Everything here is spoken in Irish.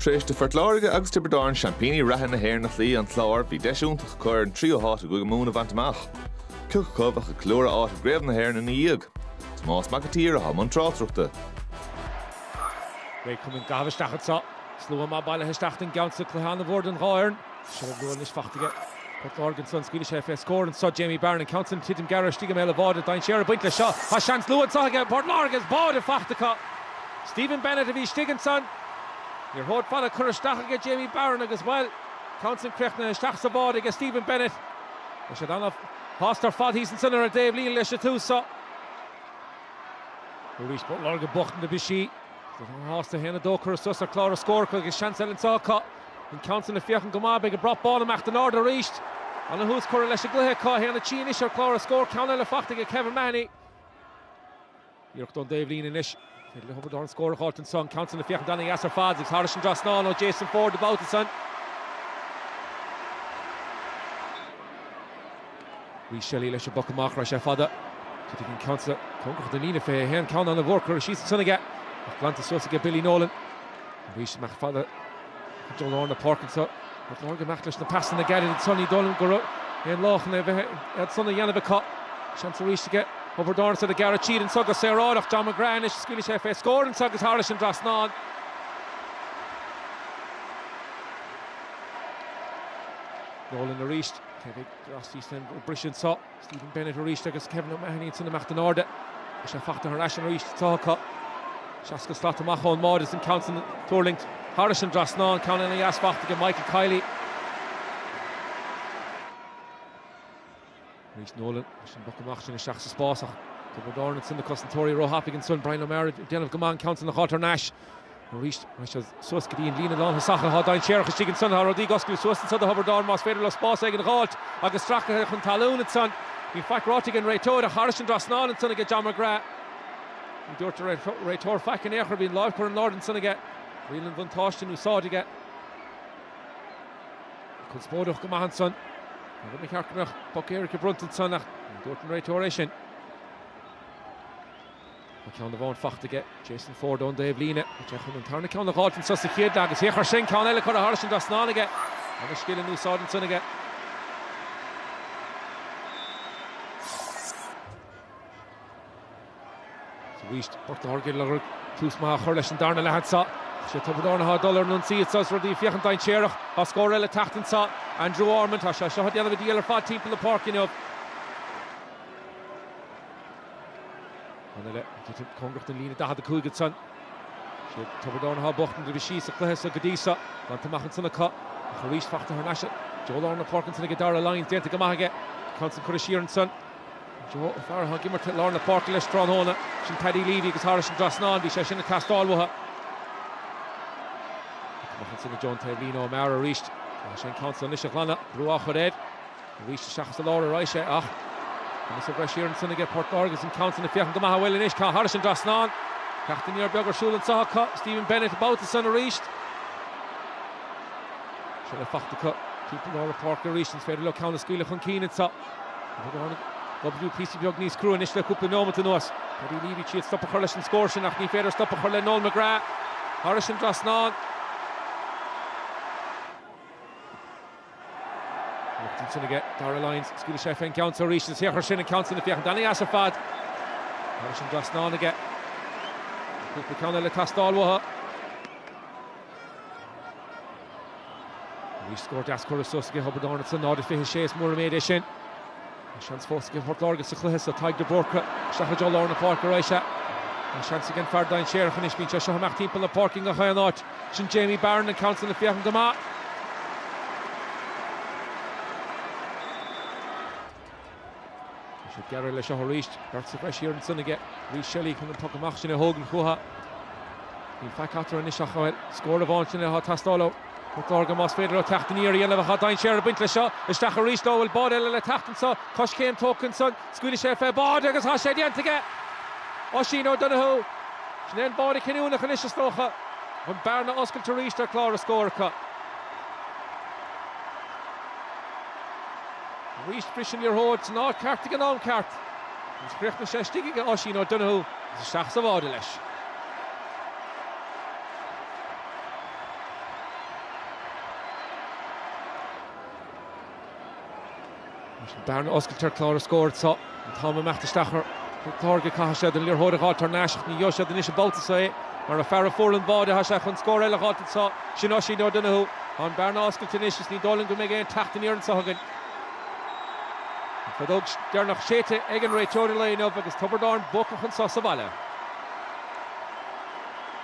Tar éis do Phort Láirge agus Tiobraid Árann seaimpíní reatha na hÉireann a chloí an Clár, bhí deis iontach acu ar an tríú háit i gCúige Mumhan a bhaint amach. Cioca acu a bheadh ag ceiliúradh áit i gCraobh na hÉireann ina dhiaidh? Tomás Mac an tSaoir atá i mbun tráchtaireachta. Beidh cumann Gailf isteach anseo. Slua maith bailithe isteach don gceann seo cluiche ana mhór don dhá fhoireann. Seo an bhuail anois, faighte aige. Port Láirge ansan, scaoilfidh sé fé scór anso, Jamie Barron, an ceann san, ag titim gearra istigh i mbéal an bháide, dainséar ag baint leis seo. Tá seans luath anso aige Port Láirge agus báide faighte acu. Stephen Bennett a bhí istigh ansan. Liathróid fhada curtha isteach aige Jamie Barron agus, bhuel, ceann san críochnaithe isteach sa bháide aige Stephen Bennett. Tá siad ana shásta ar fad thíos ansan ar an dtaobh líne leis an tús seo. Arís Port Láirge bocht na bhfisí. Sásta 1-2 curtha suas ar chlár an scór acu agus seans eile anso acu. An ceann san ag féachaint go maith, beidh an brat bán ag imeacht in airde arís. Ana thús curtha leis an gcluiche acu, tá a haon a trí anois ar chlár an scór? Ceann eile fachta aige Kevin Mahony. Iarracht ón dtaobhlíne anois. Féidir le Tiobraid Árann scór a fháilt anso. An ceann san ag féachaint ana dheas ar fad, is thairis an dtrasnán ó Jason Forde an babhta san. Rhys Shelly leis an bpoc amach, raghaidh sé fada, titfidh an ceann san cóngarach don líne, 21, ceann ana mhór curtha síos ansan aige ach glanta suas aige Billy Nolan. Arís amach fada go dtí lár na páirce anso, Port Láirge amach leis na pasanna gearra ansan, ní dóigh liom go raibh aon ghá chun é a bheith ansan a dhéanamh acu. Seans arís aige Tiobraid Árann atá ag gearradh tríd anso go saoráideach, John McGrath anois, scaoilfidh sé fé scór anso agus thairis an dtrasnán. Nolan arís. Teifigh, D'fhreastail san a bhris anseo Stephen Bennett arís agus Kevin O'Mahony ansin ag imeacht in airde. Beidh sé fachta thar n-ais arís sa tsraith acu. 60 slat amach ón mbáide is an ceann san ag tuirlingt thairis an dtrasnán, ceann ana dheas fachta aige Michael Kiely. Arís Nolan leis an bpoc amach sin isteach sa spás ach Tiobraid Árann ansin na cosantóirí ró-thapaidh ansin, Bryan O'Mara ag déanamh go maith an ceann san a dh'fháilt thar n-ais. Arís, raghaidh siad suas go dtí an líne lánthosach athá dainséarach istigh ansan, athá rudaí ag oscailt suas anso do Thiobraid Árann más féidir leo spás éigin a dh'fháilt agus stracaithe chun talún ansan. Níl faic ráite ag an réiteoir ach thairis an dtrasnán ansan aige John McGrath. Ní dúirt an réiteoir faic in aon chor, bhí an láimh curtha in airde ansan aige, riail an bhuntáiste in úsáid aige. Bhí conspóideach go maith ansan, an rud ba cheart go mbeadh poc éirice bronnta ansan ach ní dúirt an réiteoir é sin. Tá ceann amháin fachta aige, Jason Forde ón dtaobh líne. Thit sé chun an tarna ceann a dh'fháilt anso sa chéad leath agus féach air sin ceann eile curtha thairis an dtrasnán aige agus scil in úsáid ansan aige. Sa bhaois, Port Láirge ag lorg tús maith a chur leis an darna leath anso. Ach sé Tiobraid Árann atá ag dul ar an ionsaí anso is rudaí ag féachaint dainséarach. Tá scór eile ag teacht anso. Andrew Ormond, tá sé seo ag déanamh ana dhíobháil ar fad timpeall na páirce inniu. An uile thitim cóngarach den líne 45 iad san. Siad Tiobraid Árann atá bocht an taobh istigh sa chluiche so go dtí so. Bainte amach ansan acu ach arís fachta thar n-ais i dtreo lár na páirce ansan aige Darragh Lyons. Déanta go maith aige ceann san curtha siar ansan i dtreo fear atá ag imirt i lár na páirce leis tráthnóna. Sin Paddy Leavey agus thairis an dtrasnán bhí sé sin ag teastáil uathu. Amach ansan i dtreo an taobhlíne O'Mara arís. Tá sé an ceann san anois a ghlanadh. Brú á chur air. Arís isteach sa lár a raghadh sé ach conas a bheir siar ansan aige Port Láirge agus an ceann san ag féachaint go maith amhail anois. Tá thairis an dtrasnán. Teacht aniar beag ar siúl anso acu. Stephen Bennett an babhta san arís. Seilbh faighte acu timpeall lár na páirce arís. Is féidir leo ceann a scaoileadh chun cinn anso. Ag obair píosa beag níos crua anois le cúpla neomat anuas. Paddy Leavey ag triail stop a chur leis an scór sin ach ní féidir stop a chur le Noel McGrath. Thairis an dtrasnán. Anocht ansin aige Darragh Lyons, scaoilfidh sé fén gceann seo arís, an t-urchar sin, an ceann sin ag féachaint ana-dheas ar fad. Thairis an dtrasnán aige. Cúpla ceann eile ag teastáil uathu. Arís scór deas curtha suas aige Tiobraid Árann ansan, 0-26 is mór an méid é sin. Tá seans fós ag Port Láirge sa chluiche seo. Tadhg de Búrca isteach i dtreo lár na páirce arís. Sea, tá seans ag an fear dainséarach anois. Bíonn sé seo ag imeacht timpeall na páirce i ngach aon áit. Sin Jamie Barron, an ceann san ag féachaint go maith. Tá sé gearr le seo arís. Beirt sa bhreis thiar ansan aige. Rhys Shelly chun an poc amach sin a thógaint chuatha. Bíonn faic eatarthu anois ach scór amháin sin atá ag teastáil ó. Tá dóthain ama más féidir leo teacht aniar a dhéanamh ach tá dainséar ag baint leis seo. Isteach arís leo, an bhfuil báide eile le teacht anseo, Coiscéim tógtha ansan, scaoilfidh sé fé bháide agus tá sé déanta aige! Oisín O'Donoghue, sin é an báide cinniúnach anois is dócha, ach an bearna oscailte arís ar chlár na scór acu. Arís briseann an liathróid san áit cheart ag an am ceart agus chríochnaigh sé istigh aige Oisín O'Donoghue agus isteach sa bháide leis. Leis an bearna a oscailt ar chlár na scór tá an t-am ag imeacht isteach ar Phort Láirge. Caithfidh siad an liathróid a dh'fháilt thar n-ais ach ní gheobhaidh siad anois an babhta seo é mar an fear a fuair an báide tá sé chun scór eile a dh'fháilt anseo sin Oisín O'Donoghue. Tá an bearna oscailte anois is ní dóigh liom go mbeidh aon teacht aniar anseo againn. An feadóg deireanach séidte ag an réiteoir an lae inniu agus Tiobraid Árann buacach anseo sa bhaile.